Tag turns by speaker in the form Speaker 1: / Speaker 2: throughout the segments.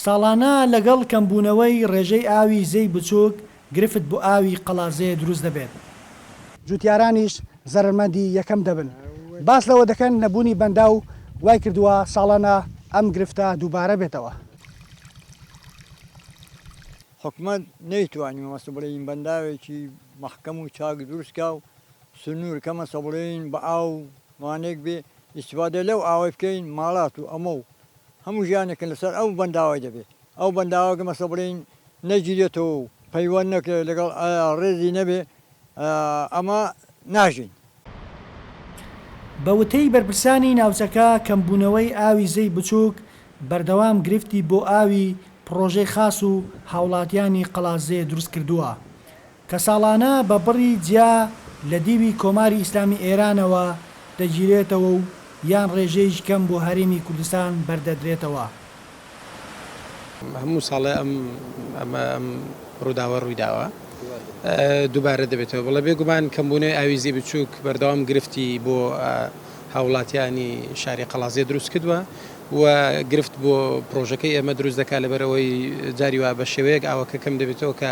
Speaker 1: ساڵانە لەگەڵ کەمبوونەوەی ڕێژەی ئاوی زێی بچووک، گرفت بۆ ئاوی قەڵادزێ دروست دەبێت. جووتیارانیش
Speaker 2: زەرەرمەندی یەکەم دەبن. باس لەوە دەکەن، نەبوونی بەنداو وای کردووە ساڵانە ئەم گرفتە دووبارە بێتەوە.
Speaker 3: حکومەت نەیتوانی مەبەستە بڵێین بەنداوێکی مەحکەم و چاک دروست کا و سنوور کە مەسە بڵێین بە ئاو وانەیەک بێ ئیستیفادە لەو ئاوەی بکەین ماڵات و ئەمە و هەموو ژیانێکن لەسەر ئەو بەنداوەی دەبێ ئەو بەنداوە گە مەسە بڵێین نەگیرێتەوە و پەیوەند نەکرێ لەگەڵ ئایا ڕێزی نەبێ ئەمە ناژین.
Speaker 1: بە وتەی بەرپرسانی ناوچەکە کەمبوونەوەی ئاوی زێی بچووک بەردەوام گرفتی بۆ ئاوی پڕۆژەی خاس و هاوڵاتیانی قەڵادزێ دروست کردووە کە ساڵانە بە بڕی جیا لە دیوی کۆماری ئیسلامی ئێرانەوە دەگیرێتەوە و یان ڕێژەیش کەم بۆ هەرێمی کوردستان بەردەدرێتەوە.
Speaker 4: هەموو ساڵێ ئەم ئەمە ئەم ڕووداوە ڕووی داوە دووبارە دەبێتەوە بەڵێ بێگومان کەمبوونەوەی ئاوی زێی بچووک بەردەوام گرفتی بۆ هاوڵاتیانی شاری قەڵادزێ دروست کردووە و گرفت بۆ پڕۆژەکەی ئێمە دروست دەکات لەبەر ئەوەی جاری وا بە شێوەیەک ئاوەکە کەم دەبێتەوە کە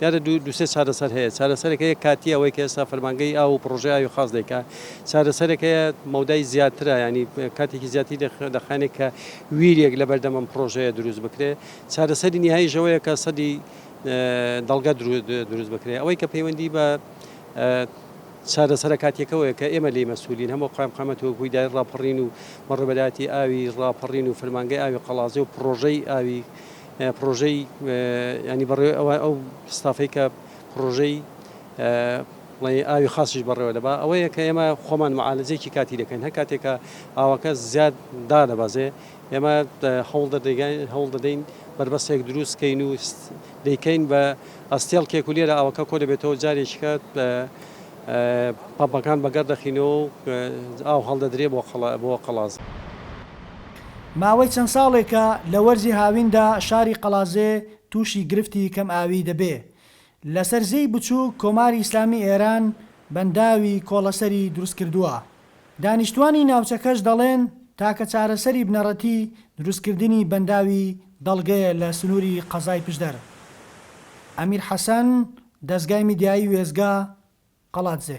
Speaker 5: دیارە دوو دوو سێ چارەسەر هەیە، چارەسەرێک هەیە کاتییە ئەوەی کە ئێستا فەرمانگەی ئاو و پڕۆژەی ئاوی خاص دەیکا، چارەسەرێک هەیە مەودای زیاترە یانی کاتێکی زیاتری دەخ دەخایەنێ کە ویریێک لە بەردەم ئەم پڕۆژەیە دروست بکرێ، چارەسەری نیهاییش ئەوەیە کە سەدی دەڵگە درو دروست بکرێ. ئەوەی کە پەیوەندی بە چارەسەرە کاتییەکەوەیە کە ئێمە لێی مەسئولین هەموو قایمقامیەتی وەکوو ئیدارەی ڕاپەڕین و مەڕبەداتی ئاوی ڕاپەڕین و فەرمانگەی ئاوی قەڵادزێ و پڕۆژەی ئاوی پڕۆژەی یانی بەڕێوەی ئەوە ئەو ستافەی کە پڕۆژەی بڵێ ئاوی خاصیش بەڕێوە دەبا ئەوەیە کە ئێمە خۆمان معالجێکی کاتی دەکەین هەر کاتێکە ئاوەکە زیاد دادەبازێ ئێمە هەوڵ دەدەگەین هەوڵ دەدەین بربەستێک دروست کەین و دەیکەین بە ئەستێڵ کێک و لێرە ئاوەکە کۆ دەبێتەوە جارێکیکە پەمپەکان بەگەڕ دەخینەوە ئاو هەڵدەدرێ بۆ قەڵا بۆ قەڵاز.
Speaker 1: ماوەی چەند ساڵێکە لە وەرزی هاویندا شاری قەڵادزێ تووشی گرفتی کەم ئاوی دەبێ. لەسەر زێی بچووک کۆماری ئیسلامی ئێران بەنداوی کۆڵەسەری دروست کردووە. دانیشتووانی ناوچەکەش دەڵێن تاکە چارەسەری بنەڕەتی دروست کردنی بەنداوی دەڵگەیە لە سنووری قەزای پشدەر. ئەمیر حەسەن، دەزگای میدیایی وێستگە، قەڵادزێ.